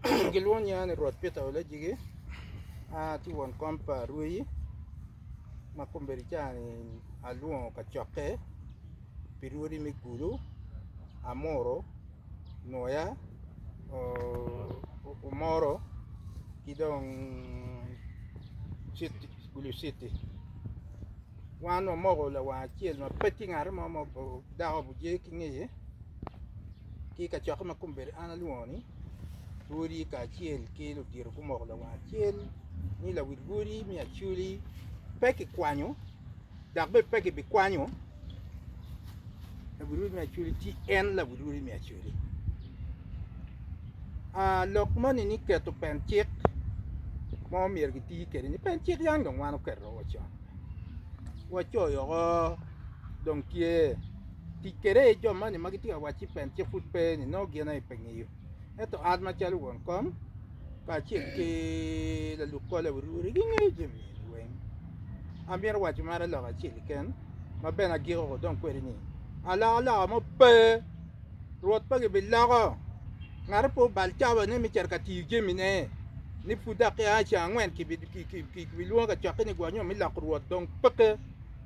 Gilwongo nyinga ni Rwot Peter Olejigi. Atye won kom pa Rweyi ma kombeddi ca-ni alwongo kacokke pi lwodi me Gulu, Amuru, Nwoya, Omoro ki dong Gulu Citi. Wan wamoko lawang acel ma pe tye ngat mo ma dako obuje ki ngeye ki kacokke ma kombeddi an alwongo-ni. odi kacel ki ludito gumoko lawang acel ni lawil odi me Acholi pe kikwanyo dok bene pe kibikwanyo lawil odi me Acholi ci en lawil odi me Acholi. Aa lok moni ni keto pen cik ma myero kiti kwede ni pen cik yam dong wan waketo woko con wacoyo woko dong tye tic kede i jo moni ma gitye ka wacci pen ci pud pe ni nongo gin aye pe ngeyo ento an macalo won kom kacel ki lalub kole wuri wuri gingeyo jami eni weng amito waco mere lok acel keken ma bene agiko ko dong kwede ni aloka loka mo pe Rwot pe gibiloko ngate pe obal cabane me cito ka tiyo jamine ni pud dok ki a i ceng angwen kibilwongo ka cokke ni gwa nyo me loko Rwot dong peke.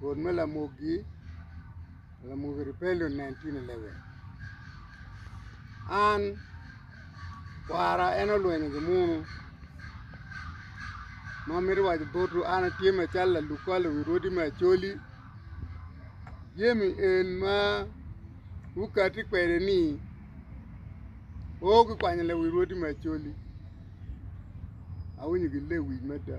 Rwot me lamogi, lamogi ribelle onen tye ni lebe, an kwara en olwenyo gimunu. Ma amito waco botwu an atye macalo lalub kwar lawi rwodi me Acholi, jami eni ma wukati kwede-ni pe gukwanyo lawi rwodi me Acholi, awinyo gilewic mada.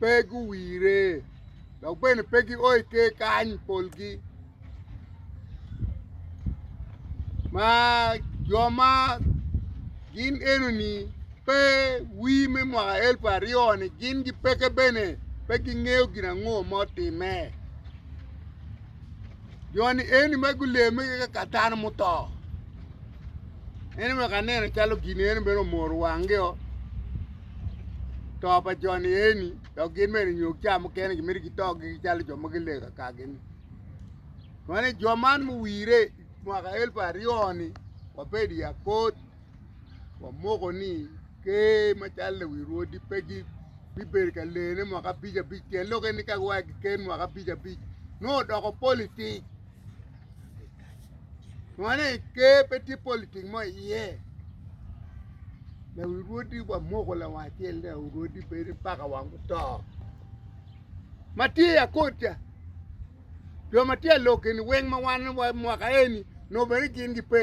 pe guwire dok bene pe gio i ker kany polgi ma jo ma gin enoni pe wir me mwaka elip aryo-ni gin gipeke bene pe gingeyo gin ango ma otimme. Jo-ni eni ma guleme keke ka dano muto. En omyero ka nene calo gin eni bene omoro wangio to pa jo-ni eni dok gin bene nyo ca mukene gimito gito gigi calo jo ma gilego kakagi-ni. Kwan-ni jo man muwire mwaka elfu aryo-ni wabedo i akor wamoko ni ker macalo lewi rwodi pe gibedo ka lene mwaka abic abic tyen lok eni ka giwaco ki ker mwaka abic abic nongo odoko politik mane ker pe tye politik mo iye lewi rwodi wamoko lawang acel ni lewi rwodi bedo mpaka wang oto ma tye i akot ca jo ma tye i lok eni weng ma wan mwaka eni nongo bene gin gipe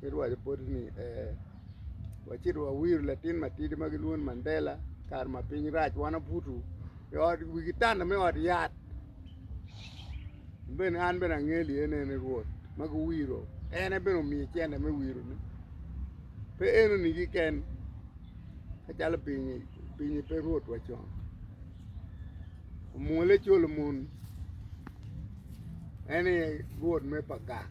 Ci luwaco boti ni, Ee, wacit wawiro latin matidi ma gilwongo ni Mandela kare ma piny rac wan abuto i ot wi kitanda me ot yat bene an bene angeli ene ni Rwot ma guwiro en aye bene omiyo cente me wirone pe enoni keken macalo pinye pe Rwot wa con omwole col omon en aye Rwot me Pagang.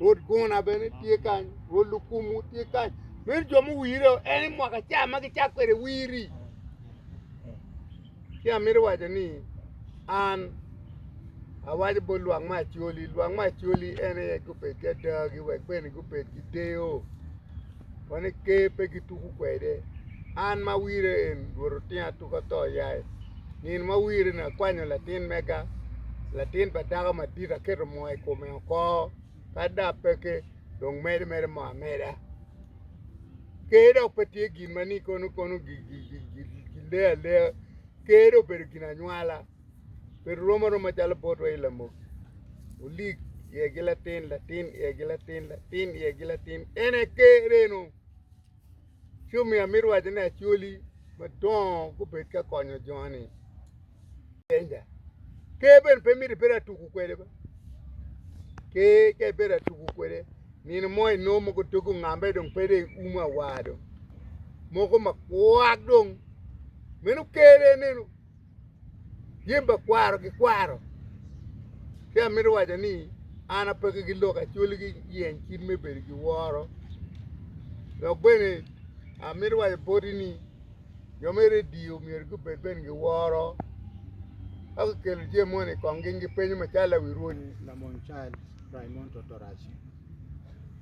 Rwod gona bene tye kany, rwod lukumu tye kany. Meno jo muwire en i mwaka ca ma gicak kwede wiri. Ci amito waco ni an awaco bot lwak me acoli, lwak me acoli en aye gubed ki adagi wek bene gubed ki deyo Wene ker pe gituko kwede. An ma wire en rwot otinga atuka ato yaye. Nino ma wire ni akwanyo latin mega, latin pa dako madit aketo moo i kome oko kadi dong apeke dong medo mere moo ameda. Ker dok pe tye gin ma ni kono kono gileo alea, ker dong obedo gin anywala. pe rom aroma calo botwa i lamok olik iye gi latin latin iye gi latin latin iye gi latin en aye ker eno ci omiyo amito waco ni acwali madongo gubed ka konyo joni penja ker bene pe mito ibedo atuku kwede be ker ka ibedo atuku kwede nino mo inongo mogo dogi ongambe dong pe dong iumo awa dong mogo makwak dong meno ker eneno. Jami pa kwaro gikwaro, ci amito waco ni an ape ki gi lok acwali ki yeny cim me bedo ki woro. Dok bene amito waco boti ni jo me redio myero gubed bene ki woro ka gukelo jami moni i kong gi gipenyo macalo awi rwod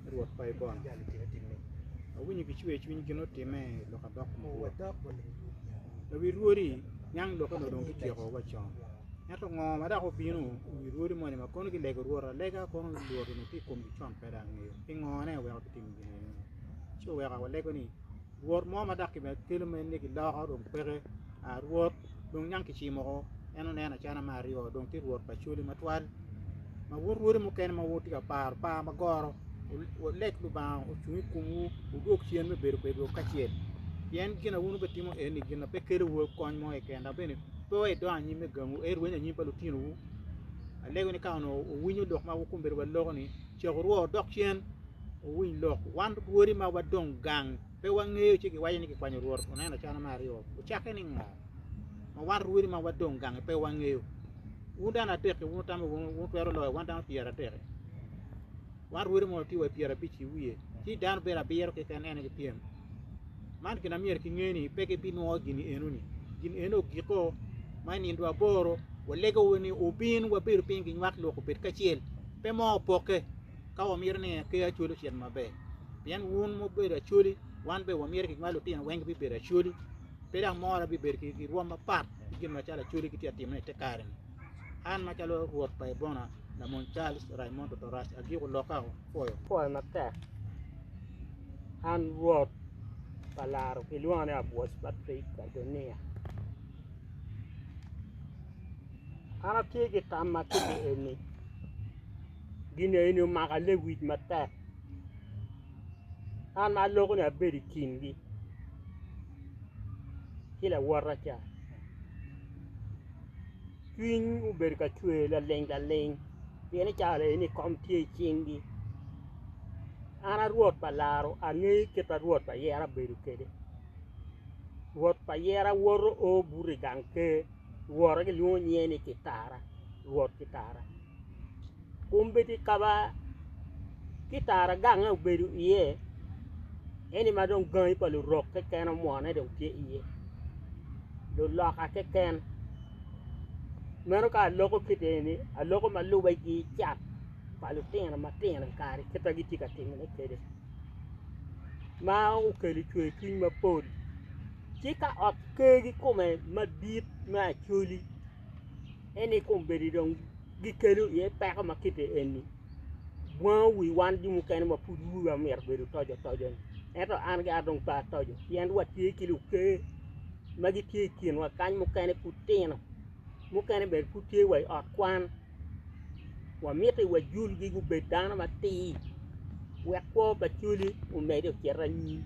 me Rwot pa Ibon. Awinyo ki cwer cwiny gin otime lok adok mabor. Lawi rwodi nyang lokke no dong kityeko wa con. Ento ngo ma dok obino i wi rwodi moni ma kono gilego Rwot alega kono Rwot onongo tye i komgi con pe dok angeyo. Pingo ne weko kitim gin eni? Ci oweko awalego ni Rwot mo ma dok kimedo kelo men ni giloko dong peke. A Rwot dong niang kicimo oko, en oneno acana me aryo dong tye Rwot pa cwali matwal. Ma wun rwodi mukene ma wutye ka paro par ma goro, wuleg Lubanga ocung i komwu, wudwog cen me bedo kwedwu kacel. Pien gin a wun wubitimo eni gin a pe kelowu kony mo keken, dok bene pe wa idongo anyim me gangu, eto irwenyo anyim pa lutinowu. Alego ni ka onongo wuwinyo lok ma wukombeddi wa loko-ni, caku rwo wudok cen, Wuwiny lok, wan rwodi ma wadong gang pe wangeyo ci giwaco ni kikwanyo Rwot oneno cana me aryo. Ocakke ni ngo ma wan rwodi ma wadong gangi pe wangeyo? Wun dano adek-ki wun wutamo wunu wutwero loyo wan dano pyeradek-ki? Wan rwodi mono tye wa i pyerabic ki wiye, ci dano bedo abiro keken en aye gipyem. Man gin ma myero kinge ni pe gibinwongo gin eno-ni. Gin eno ogiko, ma i nindwa aboro walego ni wubin wabedo piny ginywak lok obed kacel, pe mo opokke. ka wamito ni aker Acwali ocit maber pien wun ma wubedo Acwali wan bene wamito kit ma lutino weng gibibedo Acwali. Pe dok mora bibedo ki rwom mapat ki gin ma calo Acwali gitye ka timone i te kare-ni. An macalo Rwot pa Ebona, Lamony Charles Raimondo Torac agiko lokka o. Pwoyo. Pwoyo matek. An Rwot pa laro gilwonga ni Abwoc Patrick Adonia. An atye ki tam ma tidi eni. Gin eni omaka lewic matek, an ma aloko ni abedo i kingi ki lawota ca. Cwiny obedo ka cwer laling laling pien i kare eni kom tye i cingi. An a Rwot pa laro angeyo kit ma Rwot pa yera bedo kwede. Rwot pa yera woto oo buto i gang ker, wora gilwongo nyinge ni Kitara, Rwot Kitara. kombeddi kaba ki tara gange obedo iye eni ma dong gangi pa lurok keken omwone dong tye iye luloka keken meno ka aloko kiti eni aloko ma lube ki cat pa lutino matino i kare kit ma gitye ka timone kwede ma okelo cwercwiny mapol ci ka ot kegi kome madit me Acholi. Ento i kom bedo dong gikelo iye peko ma kite eni, bwango wi wan jo mukene ma pud wi wa myero obedo otoco otoco-ni. Ento an gara dong pe atoco pien watye ki luker ma gitye i kinwa kany mukene pud tino, mukene bene pud tye wa i ot kwan. Wamiti wa julgi gubed dano matir wek kwo pa cwali omedde ocit anyim.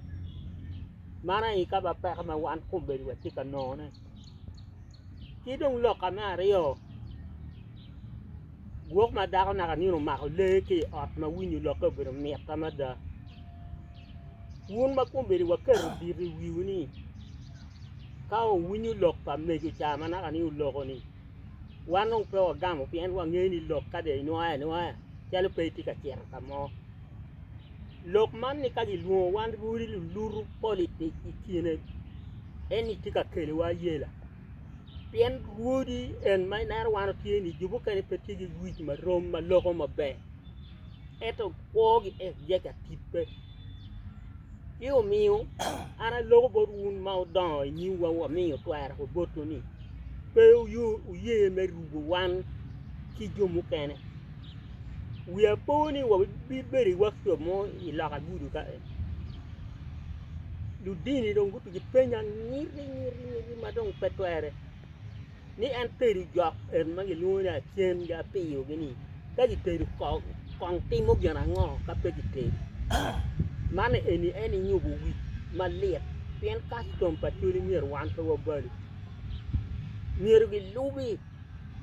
Man aye kama peko ma wan kombeddi watye ka nongo-ne. Ki dong loka me aryo, gwok ma dako naka nino omako lee ki i ot ma winyo lokke obedo mit mada. Wun ma kombeddi waketo dit i wiwu ni ka wuwinyo lok pa mego ca ma naka ni oloko-ni, wan dong pe wagamo pien wangeyo ni lok ka dong inwoyo anwoya calo pe itye ka cito ka mo. lok man ni ka gilwongo wan rwodi lulutu politics i kine en ni tye ka keliwa ayela pien rwodi en ma ineno wan watye ni jo mukene pe tye ki wic ma rom ma loko maber ento kwogi en tye ka tibbe ci omiyo an aloko bot wun ma wudongo i nyimwa wamiyo twero botwu ni pe wuye me rubo wan ki jo mukene. Wiya po ni wabibedo iwak co mo i loka gudo ka en, ludini dong guti ki penya ngiti ngiti ngiti ma dong pe twere ni en tedo jok en ma gilwongo ni acen ki apiyogi ni ka gitedo kong kong timo gin ango ka pe kitedo man eni en inyubo wi malit pien kastom pa cwale myero wan pe wabalo myero gilubi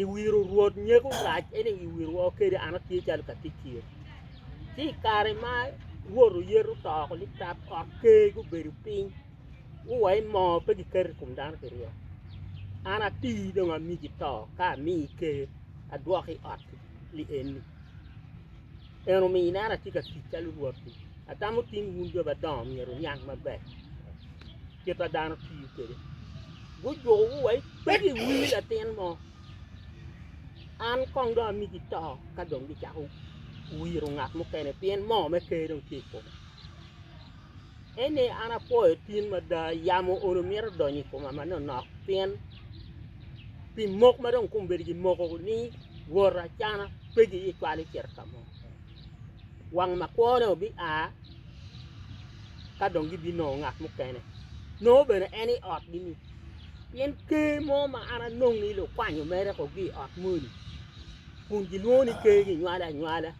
i wiro rwot nyeko lac ene i wiro woko kede an atye calo ka tic kir ci i kare ma rwot oyeto toko ni tap ot ker gubedo piny guwaci moo pe giketo i kom dano pi ryek an atii dong amigi to ka amii ker adwoki i ot li eni en omiyo ineno atye ka tic calo rwot-ti atamo tin wun jo madongo myero wuniang maber Kit ma dano tiyo kwede. Gujuko wa pe giwinyo latin mo. An kong dong amigi to ka dong gicako wiro ngat mukene pien moo me ker dong tye i kome. Eni an apwoyo tin mada yamo olo mito donyo i koma manonok pien pi mok ma dong kong bedo gimoko ni wora cana pe giye cwalo cito ka mo. Wang makwo-ni obi a ka dong gibinongo ngat mukene, nongo bene en i otgi-ni. Pien ker mo ma an anongi lukwanyo mere kogi i ot moni, kun gilwongo ni ker ginywale anywala,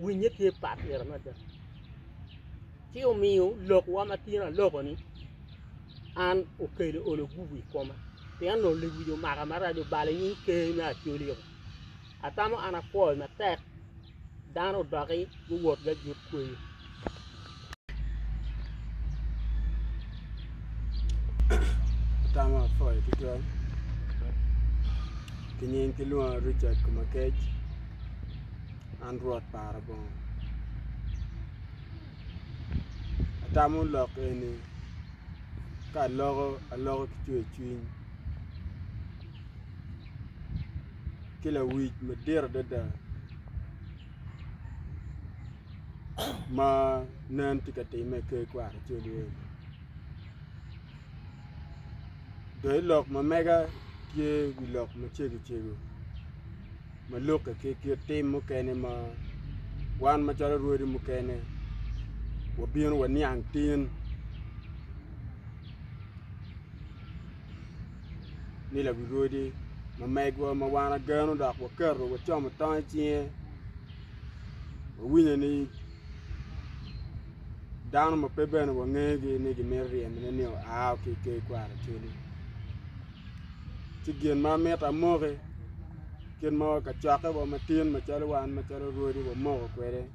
winnye tye pat pire mada. Ci omiyo lokwa ma tino aloko-ni, an okelo olo gubu i koma, pien onongo lewic omaka maraco balo nying ker me Acholi-o. Atamo an akwoyo matek, dano odoki guwot gagut kweyo. Atamo apwoyo tutwal. Kinying kilwonga Richard Kumakec. An rwot para bongo. Atamo lok eni ka aloko aloko ki cwer cwiny. ki lawic madit adada ma nen tye ka timme i ker kwaro cal eni. Doki lok ma mega tye wi lok macego cego ma lukke ki kit tim mukene ma wan macalo rwodi mukene wabino waniang tin. ni lawirodi ma megwa ma wan ageno dok waketo wacomo tong icinge wawinyo ni dano ma pe bene wangegi ni gimito ryemone ni oa ki i ker kwaro ocele ci gin ma amito amoki kit ma kacokke wa matin macalo wan macalo rwodi wamoko kwede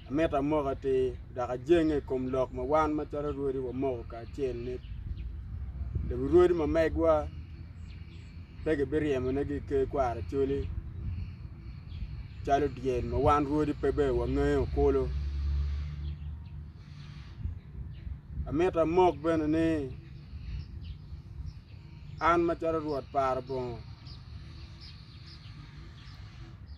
Amito amoko atir dok ajenge i kom lok ma wan macalo rwodi wamoko kacel ni lewi rwodi ma megwa pe gibiryemonegi i ker kwara coli calo dyel ma wan rwodi pe ber wangeyo kulu. Amito amok bene ni an macalo Rwot par bongo.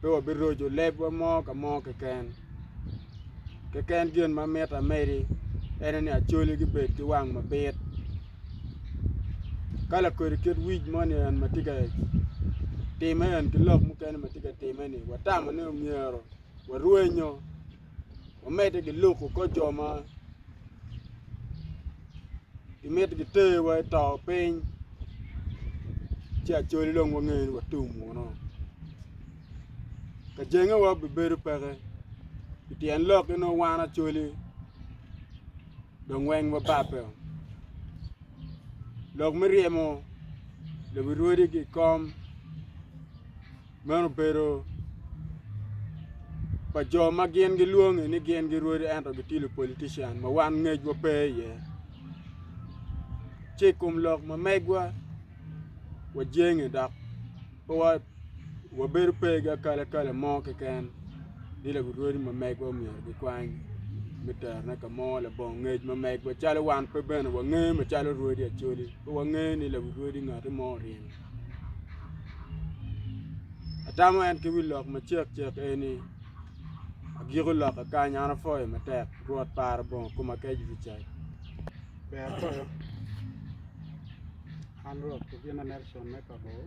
pe wabiroco lebwa mo ka mo keken. Keken gin ma miti amedi en ni acoli gibed ki wang mabit ka lakodi kit wic moni en ma tye ka timme en ki lok mukene ma tye ka timme-ni watamo ni myero warwenyo wamedde ki luku kor jo ma gimito giterowa i to piny ci acwali dong wange ni watum wunu ka jengewa bibedo peke pi tyen lok nongo wan acwali dong weng wababbe o lok me ryemo lobo rwodi ki i kom Meno obedo pa jo ma gin gilwongi ni gin girwodi ento gitye lupolitician ma wan ngecwa pe iye. Ci i kom lok ma megwa wajenge dok pe wabedo pe ki akalakala mo keken ni lagurwodi ma megwa myero gikwany me terone ka mo labongo ngec ma megwa calo wan pe bene wange macalo rwodi Acholi pe wange ni lagurwodi ngati mo oryem. Atamo en ki wi lok macek cek eni, agiko loka kany an apwoyo matek Rwot para bongo koma kec Richard. Ber koyo. An Rwot Kobina Nelson me Pabor.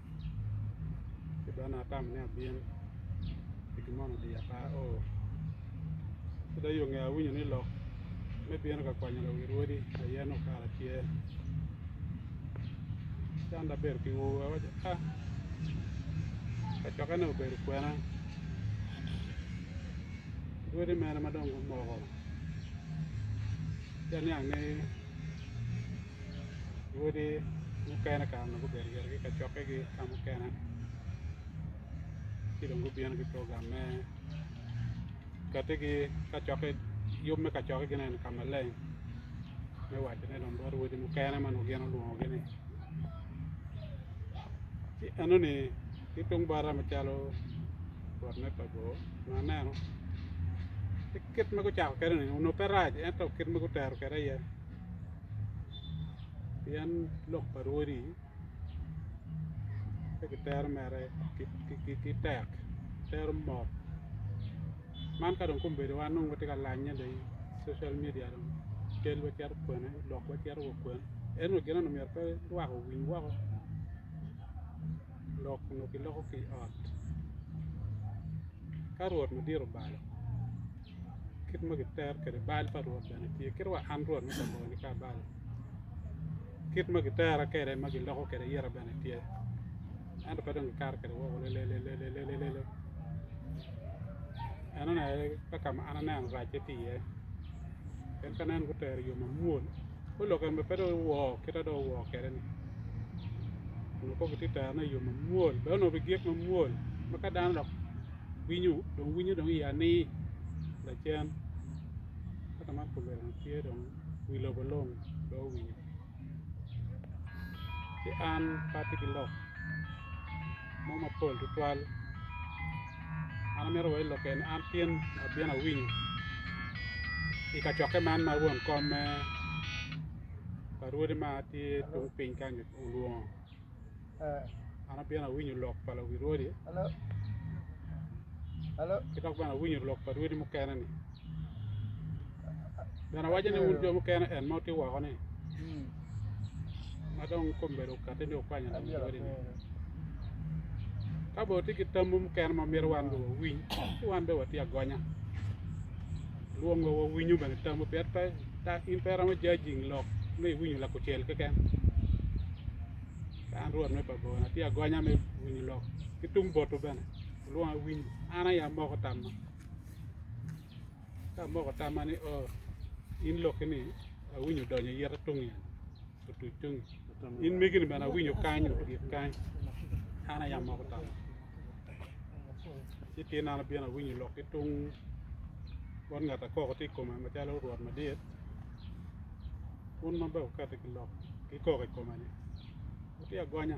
ci dong nongo atamo ni abin pi gin moni odiya pe aor ci dong yo nge awinyo ni lok me bino ka kwanyo lawi rwodi aye ni okara tye ci an dong abedo ki ur awaco a kacokene obedo kwena rwodi mene ma dong gumoko ci aniang ni Lwodi mukene kare onongo gubedo gire ki kacokkegi ka mukene ci dong gubino ki program me kettigi kacokke yub me kacokkegini eni ka maleng me wacone dong bot odi mukene ma nongo gin olwongogi-ni ci enoni ki tung bota macalo rwot me Pabor onongo aneno ci kit ma gucako kwede-ni onongo pe rac ento kit ma gutero kwede aye pien lok pa Rwodi pe kitero mere ki tek, tero mot. Man ka dong kombeddiwa nongo watye ka lanye dong i social media dong cal wacito kwene, lok wacito wa kwene. Ento gin eno myero pe lwak owiny woko, lok onongo kiloko ki i ot ka Rwot madit obalo. kit ma gitero kwede bal pa Rwot bene tye, kit wa an Rwot me Kaboyo nika bal, kit ma gitera kwede ma giloko kwede ayeta bene tye, ento pe dong gikato kwede woko lelelelelelele. Enoni aye ka ka ma an aneno racce tye iye, pien ka nen gutero i yo mamwol, ka olok en bene pe dong owor kit ma dong owor kwede-ni, onongo kong gitye ka terone i yo mamwol, bene onongo bigik mamwol ma ka dano dok Winyo dong winyo dong iya ni lacen ka ka man kobbe dong tye dong wi lobo long dong owinyo ci an pe atye ki lok mo mapol tutwal an amito wa i lokke ni an tin abino awinyo i kacokke man ma won kom me pa rwodi ma tye tung piny kany olwongo An abino awinyo lok pa lawi rwodi ki dok bene awinyo lok pa rwodi mukene-ni. Bene awaco ni wun jo mukene en ma wutye woko-ni ma dong kombeddi okatti ni wukwanyo lawi rwodi-ni. Ka bene wutye ki tamwu mukene ma myero wan bene wawiny ci wan bene watye agonya. Lwongo wawinyo bene tamwu pien pe in pe iromo jajing lok me iwinyo lakucel keken. An Rwot me Babilon atye agonya me winyo lok, ki tung boto bene olwonga awinyo. An aye amoko tamma, ka amoko tamma ni, Oo, in lokki-ni awinyo odonyo i ite tungnge, otuc tungnge, in megi-ni bene awinyo kany, otyek kany. An aye amoko tamma. Ci tyen an abino awinyo lok ki tung bot ngat akoko tye i koma macalo Rwot Madit. Un ma bene wukati ki lok ki kok i koma ni, 'Wutye agonya,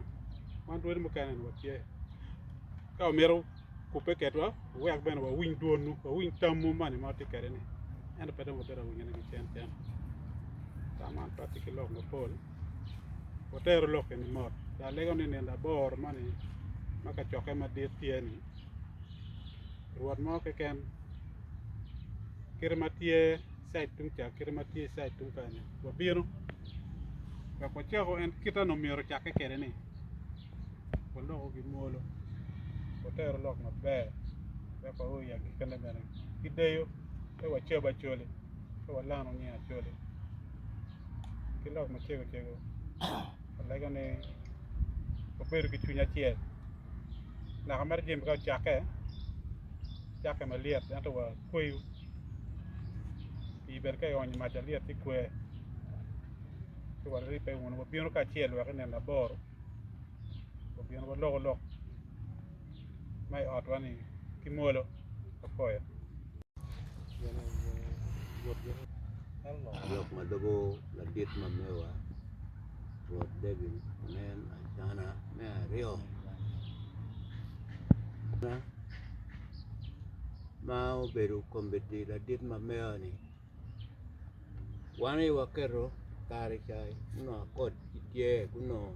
wan rwodi mukene-ni watye. Ka wumito kubbe ketwa, wuwek bene wawiny dwonwu, wawiny tamwu moni ma wutye kwede-ni. Ento pe dong wabedo ka winyone ki cen cen. Tam man pe atye ki lok mapol. Wuteru lok eni mot. Dok alego ni nino aboro moni ma kacokke madit tye-ni, rwot mo keken kite ma tye, cait tung ca kite ma tye cait tung kany ni wabino wek wacako en kite onongo myero ocakke kede ni waloko gi mwolo watero lok maber wek wao i agikene bene ki deyo pe wacab acoli pe walano nying acoli ki lok macego cego walego ni wabedo ki cwiny acel naka mere jami ka ocakke cakke malyet ento wa kweyo pii bene ka ionyo mac alyet ci kwe ci wa ribbe wunu wa bino kacel wek inene aboro wa bino wa loko lok ma i ot wa ni ki mwolo wa koyo Lok ma lubo ladit ma mewa Rwot David onen acana me aryo. ma obedo komitti ladit ma meya-ni wan aye waketo kare ca nongo akot ki tye gunongo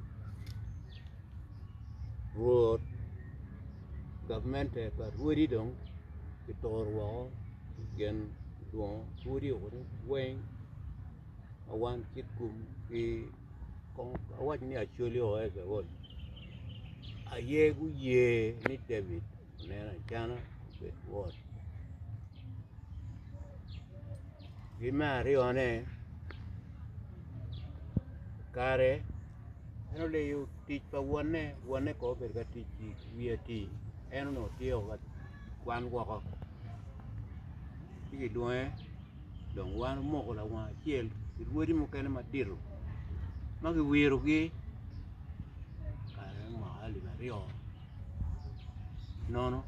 rwot gavmente pa rwodi dong kituro woko i kin dwongo rwodi weng ma wan ki kum ki Kong awac ni Acholi o Ecebol aye guye ni David onen acana obed wot. Ki me aryone, kare en oleyo tic pa wonne, wonne kong obedo ka tic i wi ati, en onongo tyeko ka kwan woko ci gilwonge dong wan wumoko lawang acel ki lwodi mukene matito ma giwirogi kare mwaka alip aryo nono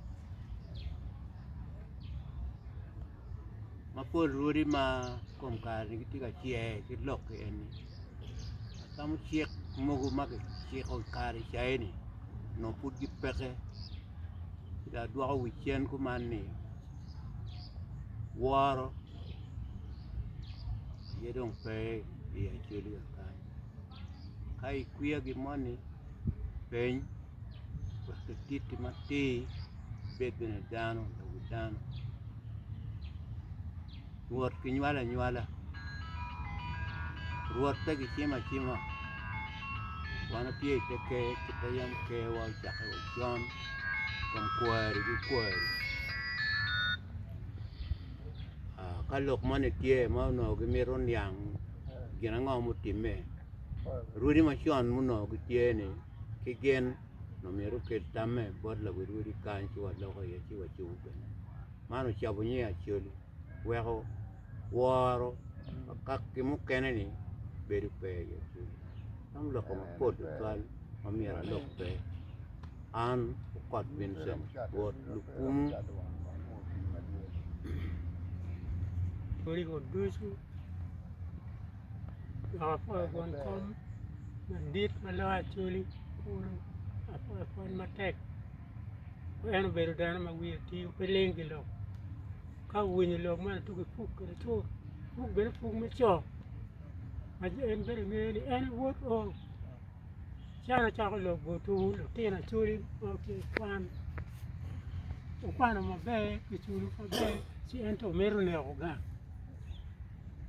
ma pol lwodi ma kom kareni gitye ka cwer ki lokki eni atamo cik mogo ma kiciko i kare caini nongo pud gipeke ci dong adwoko wi cen kuman ni woro aye dong pe i acwali wa kany ka ikwiya gi moni peny wek kititi matir ibed bene dano odoki dano Rwot ginywalo anywala, Rwot pe gicimo acima. Wan watye i te ker ki pe yam kerwa ocakke wa con kom kwari ki kwari. Ah, Ka lok moni tye ma onongo gimito niang gin ango mutimme, rwodi macon munongo gitye-ni ki gin onongo myero okel tamme bot lawil rwodi kany ci waloko iye ci wacung kwede. Man ocabo nyi Acholi. weko woro ka ki mukene ni bedo pe i ye cwiny man lok mapol tutwal ma myero alok pe an okot Vincent wot lukumu en obedo dano ma wiye tio pe ling ki lok ka owinyo lok ma latugi puk ki lacoo puk bene puk me co ma ci en bene ingeyo ni en i wot oo ci an acako lok bot tung lutino acholi ma gitye ka kwan wukwano maber kiculo maber ci ento mito neko gang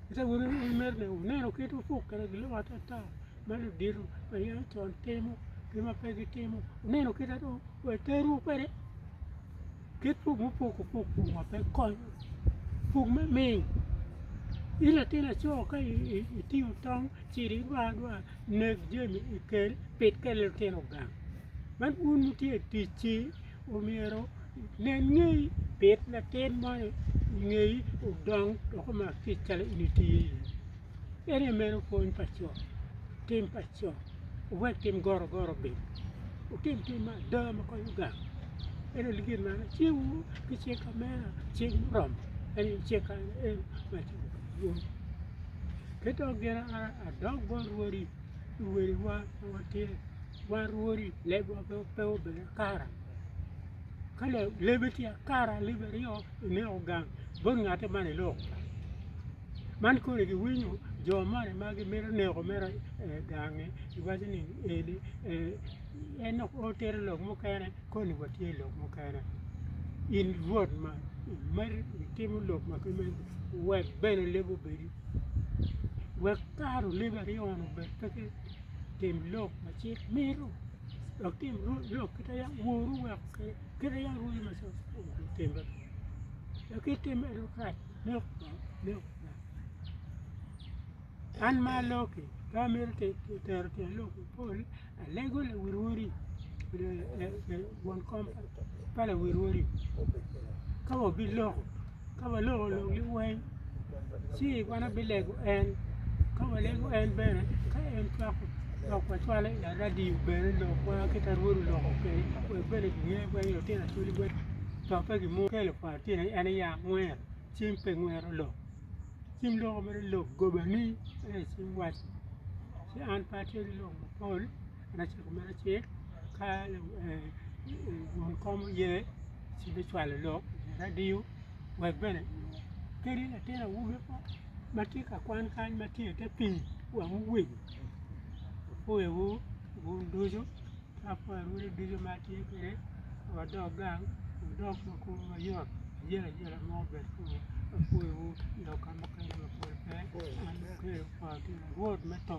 Ento awobi ma omeri-ni oneno kit opuk kede giloko atata ma ludito ma yen ocon timo ki ma pe gitimo oneno kite dong wa teru kwede kit puk mupuk opuk puk ma pe konyo puk me ming in latin laco ka itingo tong ci i dwar adwar neg jami ikel pit kwede lutino gang man un wutye i tic-ci omyero nen ngeyi bit latin moni ngeyi odong dok omak kic calo in itiyo iye ene meno pwony pa co tim pa co owek tim gorogoro bim wutim tim ma ada ma konyo gang ene gin ma an acikowu ki cing ka mena cing muromo en aye cing kany en ma aciko ki dwong ki dong gin adok bot wadi luwadiwa ma watye Wa rwodi lebwa pe obed akara, ka lebbe tye akara lebbe aryo ineko gang bot ngate man iloko gang, man koni giwinyo jo moni ma gimito neko mere i gangi giwaco ni eni en dok otito lok mukene koni watye i lok mukene in rwot man imito itimo lok ma kimeno wek bene lebbi obedi wek kara olebbi aryo-ni obed pe ki Tim lok ma cik mito, dok tim lok kit ma yam woru weko kwede, kit ma yam rwodi ma cik otimme kwede. Dok ka itimo meno dong kare inok bot, inok bot. An ma alok-ki, ka amito tero tyen lok mapol, alego lawil wodi won kom pa lawil wodi ka wabiloko. ka waloko lok liweng ci wan abilego en ka walego en bene ka en cwako lok wacwalo i aradio bene lokwa ki ka rwod oloko kwede wek bene kinge weng lutino cwali weng to pe gimo kelo pa lutino en aye angwer cim pe ngwero lok cim loko mere lok gobani ento cim waco ci an pe atye ki lok mapol an aciko mere acel ka wun kom oye ci bicwalo lok i radio wek bene kadi latin awobi mo ma tye ka kwan kany ma tye i te pii wang owego opwoyewu un ducu ki apwoyo anyira ducu ma atye kwede wadok gang wudok ma kulu mayot ayelo ayela mo obed kunu apwoyewu dok ka mukene mapol pe an akelou kwar ki Lurot me to.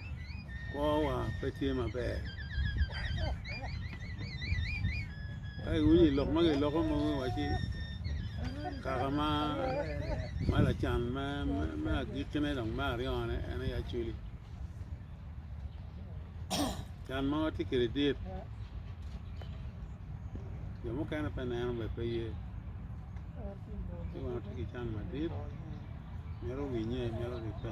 kwowa pe tye maber ka iwinyo i lok ma giloko mogo iwaci kaka ma ma lacan ma ma agikkine dong me aryone en aye acwili can ma watye kwede dit jo mukene pe neno be pe ye ci wan watye ki can madit mito winye mito ribbe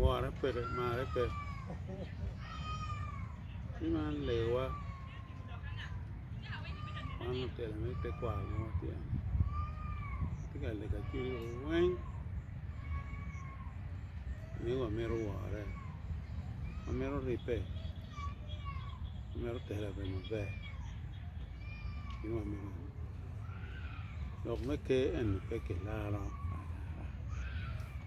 wore peke mare pe ci man lewa man lutino me tekwaro ma watye-ni watye ka lego cwinyi weng ni wamito wore wamito ribbe wamito telo i yo maber ci wamito lok me ker eni pe kilaro alara.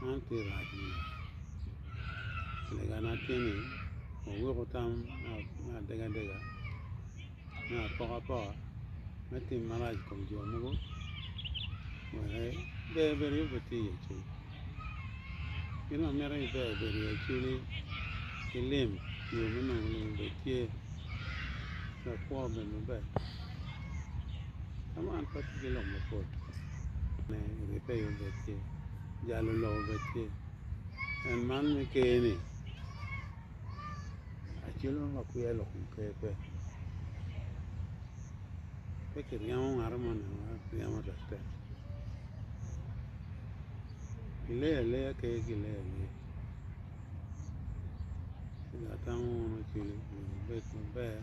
man tye rac me lega, lega ma tye ni aweko tam me adega adega me apoka poka me tim marac i kom jo mogo wek ber bed aye pe tye i acel gin ma mito ni ber obed i acel ki lim yo me nongo lim bene tye wek kwo obed maber ka man pe tye ki lok mapol. ne giteyo becce, jalo loko becce. En man me ker ni acel mo ma kwiya lok kom ker pe, pe kiryemo ngato mo nino ma ryemo tek tek kileyo aleya ker kileyo aleya ci dong atamo mono cwale obedo maber.